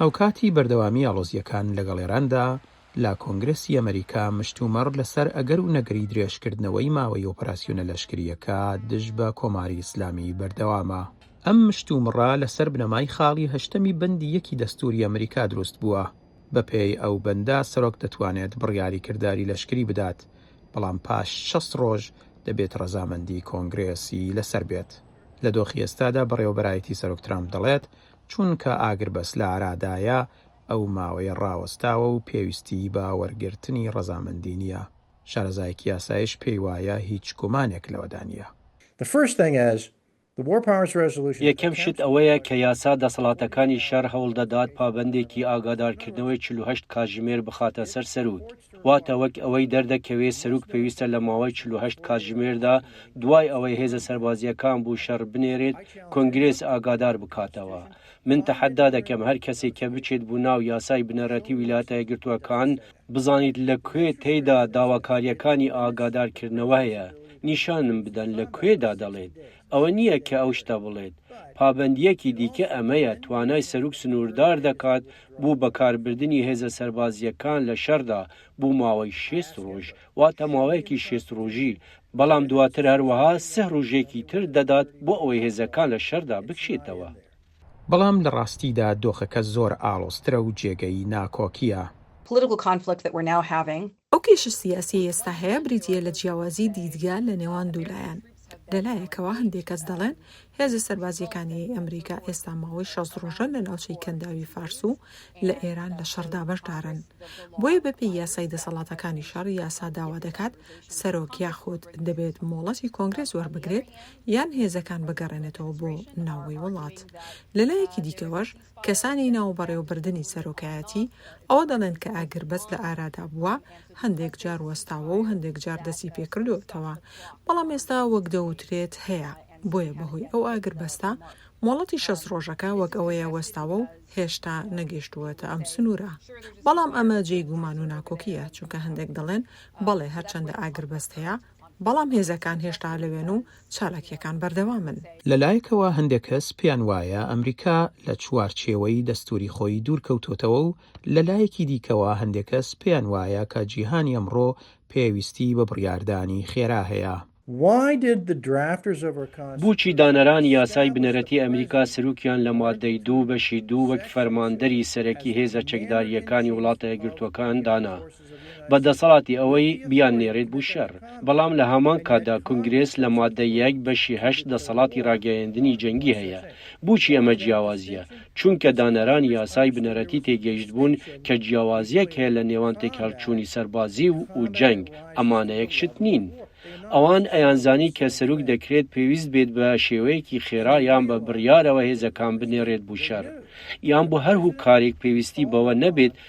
هاوکاتی بەردەوامی ئاڵۆزییەکان لەگەڵ ئێراندا، لە کۆنگرێسی ئەمەریکا مشتومڕ لەسەر ئەگەر و نەگەری درێژکردنەوەی ماوەی ئۆپراسیۆنە لەشکرییەکە دژ بە کۆماری ئیسلامی بەردەوامە. ئەم مشتومڕە لەسەر بنەمای خاڵی هەشتەمی بەندی یەکی دەستووری ئەمەریکا دروست بووە، بەپێی ئەو بەندە سەرۆک دەتوانێت بڕیاری کرداری لەشکری بدات، بەڵام پاش شەست ڕۆژ دەبێت ڕەزامەندی کۆنگرێسی لەسەر بێت. لە دۆخی ئێستادا بەڕێوەبەرایەتی سەرۆک ترامپ دەڵێت، چونکە ئاگربەست لە ئارادایە، ئەو ماوەیە ڕاوەستاوە و پێویستیی بە وەرگرتنی ڕەزامەندی نییە. شارەزایەکی یاسایش پێی وایە هیچ گومانێک لەوەدا نییە. یەکەم شت ئەوەیە کە یاسا دەسەڵاتەکانی شەڕ هەوڵ دەدات پابەندێکی ئاگادارکردنەوەی چل و هەشت کاتژمێر بخاتە سەر سەرۆک. واتە وەک ئەوەی دەردەکەوێت سەروک پێویستە لە ماوەی چل و هەشت کاتژمێردا دوای ئەوەی هێزە سەربازییەکان بو شەڕ بنێرێت کۆنگرێس ئاگادار بکاتەوە من تەحەدا دەکەم هەر کەسێک کە بچێت بو ناو یاسای بنەڕەتی ویلایەتە یەکگرتووەکان بزانیت لە کوێ تێیدا داواکارییەکانی ئاگادارکردنەوە هەیە نیشانم بدەن لە کوێدا دەڵێت ئەوە نییە کە ئەو شتە بڵێت. پابەندییەکی دیکە ئەمەیە، توانای سەروک سنووردار دەکات بۆ بەکاربردنی هێزە سەربازییەکان لە شەڕدا بۆ ماوەی شێست ڕۆژ، واتە ماوەیەکی شێست ڕۆژی، بەڵام دواتر هەروەها سه ڕۆژێکی تر دەدات بۆ ئەوەی هێزەکان لە شەردا بکشێتەوە. بەڵام لە ڕاستیدا دۆخەکە زۆر ئاڵۆزترە و جێگەی ناکۆکییە. ئەو کێشە سیاسیەی ئێستا هەیە بریتیە لە جیاوازی دیدگا لە نێوان دوو لایەن، لە لایەکەوە هەندێک کەس دەڵێن هێزە سەربازیەکانیی ئەمریکا ئێستا ماوەی شەست ڕۆژە لە ناوچەی کەنداوی فارس و لە ئێران لە شەڕدا بەشدارن بۆیە بە پێی یاسای دەسەڵاتەکانی شەڕ یاسا داوا دەکات سەرۆک یاخود دەبێت مۆڵەتی کۆنگرێس وەربگرێت یان هێزەکان بگەڕێنێتەوە بۆ ناوەوەی وڵات لە لایەکی دیکەوەش کەسانی ناو بەڕێوەبردنی سەرۆکایەتی ئەوە دەڵێن کە ئاگربەست لە ئارادا بووە، هەندێک جار وەستاوە و هەندێک جار دەستی پێکردووەتەوە، بەڵام ئێستا وەک دەوترێت هەیە، بۆیە بەهۆی ئەو ئاگربەستە مۆڵەتی شەست رۆژەکە وەک ئەوەیە وەستاوە و هێشتا نەگەیشتووەتە ئەم سنوورە، بەڵام ئەمە جێی گومان و ناکۆکییە، چونکە هەندێک دەڵێن بەڵێ هەرچەندە ئاگربەست هەیە، بەڵام هێزەکان هێشتا لەوێن و چالاکییەکان بەردەوامن. لەلایەکەوە هەندێک کەس پێیان وایە ئەمریکا لە چوارچێوەی دەستووری خۆی دوورکەوتۆتەوە و لەلایەکی دیکەوە هەندێک کەس پێیان وایە کە جیهانی ئەمڕۆ پێویستی بە بڕیاردانی خێرا هەیە. بۆچی دانەرانی یاسای بنەرەتی ئەمریکا سروکیان لە ماددەی دوو بەشی دوو وەک فەرماندەری سەرەکی هێزە چەکدارییەکانی وڵاتە یەکگرتووەکان دانا؟ بە دەسەڵاتی ئەوەی بیاننێرێت بو شەر، بەڵام لە هەمان کاتدا کونگرێس لە ماددە یەک بەشی هەشت دەسەڵاتی راگەیەندنی جەنگی هەیە. بوچی ئەمە جیاوازیە؟ چونکە دانەرانی یاسای بنەرەتی تێگەیشتبون کە جیاوازیەک هەیە لە نێوان تێکهەڵچونی سەربازی و و جەنگ، ئەمانە یەک شت نین. ئەوان ئەیانزانی کە سەروک دەکرێت پێویست بێت بە شێوەیەکی خێرا یان بە بریارەوە هێزەکان بنێرێت بو شەر، یان بو هەر هوکارێک پێویستی بەوە نەبێت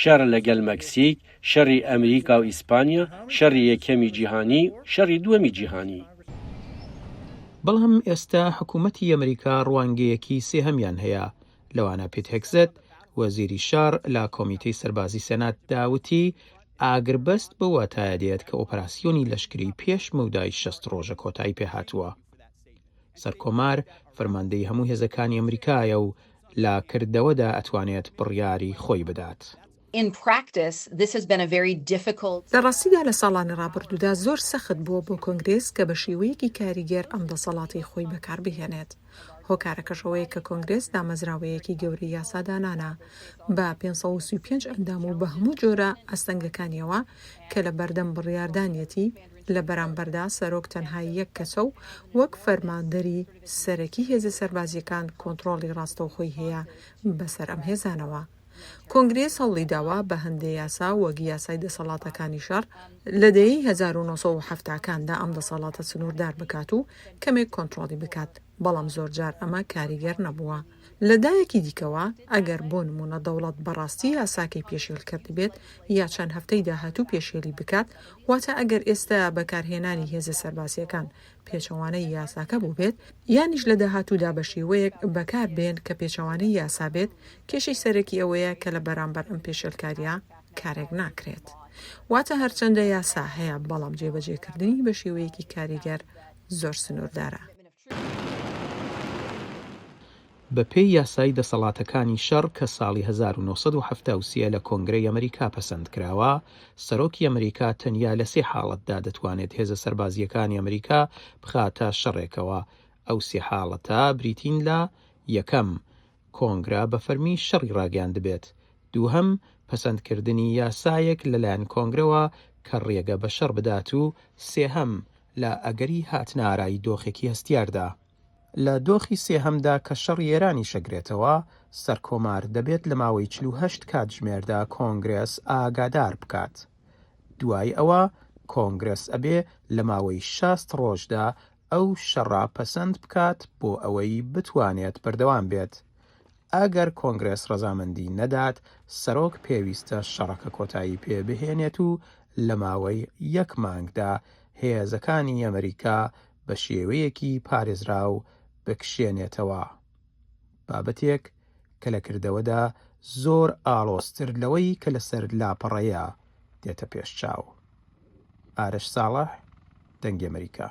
شەڕ لەگەل مەکسیک، شەڕی ئەمریکا و ئیسپانیا، شەڕی یەکەمی جیهانی، شەڕی دووەمی جیهانی. بەڵام ئێستا حکومەتی ئەمریکا ڕوانگەیەکی سێهەمیان هەیە. لەوانا پیت هێگسێت، وەزیری شەڕ لە کۆمیتەی سەربازی سێناتدا وتی ئاگربەست بەو واتایە دێت کە ئۆپەراسیۆنی لەشکری پێش مەودای شەست ڕۆژە کۆتایی پێهاتووە. سەرکۆمار فەرماندەی هەموو هێزەکانی ئەمریکایە و لە کردەوەدا ئەتوانێت بڕیاری خۆی بدات. لە ڕاستیدا لە ساڵانی ڕابردوودا زۆر سەخت بووە بۆ کۆنگرێس کە بە شێوەیەکی کاریگەر ئەم دەسەڵاتەی خۆی بەکار بهێنێت. هۆکارەکەش ئەوەیە کە کۆنگرێس دامەزراوەیەکی گەورەی یاسادانانە بە پێنج سەد و سی و پێنج ئەندام و بە هەموو جۆرە ئەستەنگەکانیەوە کە لە بەردەم بڕیاردانیەتی، لە بەرامبەردا سەرۆک تەنها یەک کەسە و وەک فەرماندەری، سەرەکی هێزە سەربازییەکان کۆنتڕۆڵی ڕاستەوخۆی هەیە بەسەر ئەم هێزانەوە. کۆنگرێس هەوڵی داوە بە هەندێ یاسا وەک یاسای دەسەڵاتەکانی شەڕ لە دەیەی هەزار و نۆ سەد و حەفتا کاندا ئەم دەسەڵاتە سنووردار بکات و کەمێک کۆنتڕۆڵی بکات بەڵام زۆرجار ئەمە کاریگەر نەبووە. لە دایەکی دیکەوە ئەگەر بۆ نموونە دەوڵەت بەڕاستی یاساکەی پێشێل کردبێت یا چەند هەفتەی داهاتوو پێشێلی بکات واتە ئەگەر ئێستا بەکارهێنانی هێزە سەربازییەکان پێچەوانەی یاساکە بووبێت، یانیش لە داهاتوودا بە شێوەیەک بەکار بێن کە پێچەوانەی یاسا بێت، کێشەی سەرەکی ئەوەیە کە لە بەرامبەر ئەم پێشێلکارییە کارێک ناکرێت. واتە هەرچەندە یاسا هەیە، بەڵام جێبەجێکردنی بە شێوەیەکی کاریگەر زۆر سنووردارە. بەپێی یاسای دەسەڵاتەکانی شەڕ کە ساڵی هەزار و نۆ سەد و حەفتا و سێ لە کۆنگرەی ئەمریکا پەسەند کراوە، سەرۆکی ئەمریکا تەنیا لە سێ حاڵەتدا دەتوانێت هێزە سەربازییەکانی ئەمریکا بخاتە شەڕێکەوە، ئەو سێ حاڵەتە بریتین لە، یەکەم، کۆنگرە بە فەرمی شەڕی ڕاگەیاندبێت، دووهەم، پەسەندکردنی یاسایەک لەلایەن کۆنگرەوە کە ڕێگە بە شەڕ بدات و سێهەم، لە ئەگەری هاتنەئارای دۆخێکی هەستیاردا. لە دۆخی سێهەمدا کە شەڕی ئێرانیش ئەگرێتەوە سەرکۆمار، دەبێت لە ماوەی چل و هەشت کاتژمێردا کۆنگرێس ئاگادار بکات. دوای ئەوە کۆنگرێس ئەبێ لە ماوەی شەست ڕۆژدا ئەو شەڕە پەسەند بکات بۆ ئەوەی بتوانێت بەردەوام بێت. ئەگەر کۆنگرێس ڕەزامەندی نەدات، سەرۆک پێویستە شەڕەکە کۆتایی پێ بهێنێت و لە ماوەی یەک مانگدا هێزەکانی ئەمریکا بە شێوەیەکی پارێزراو بکشێنێتەوە، بابەتێک کە لە کردەوەدا زۆر ئاڵۆزتر لەوەی کە لەسەر لاپەڕەیە دێتە پێش چاو. ئارش ساڵح، دەنگی ئەمەریکا.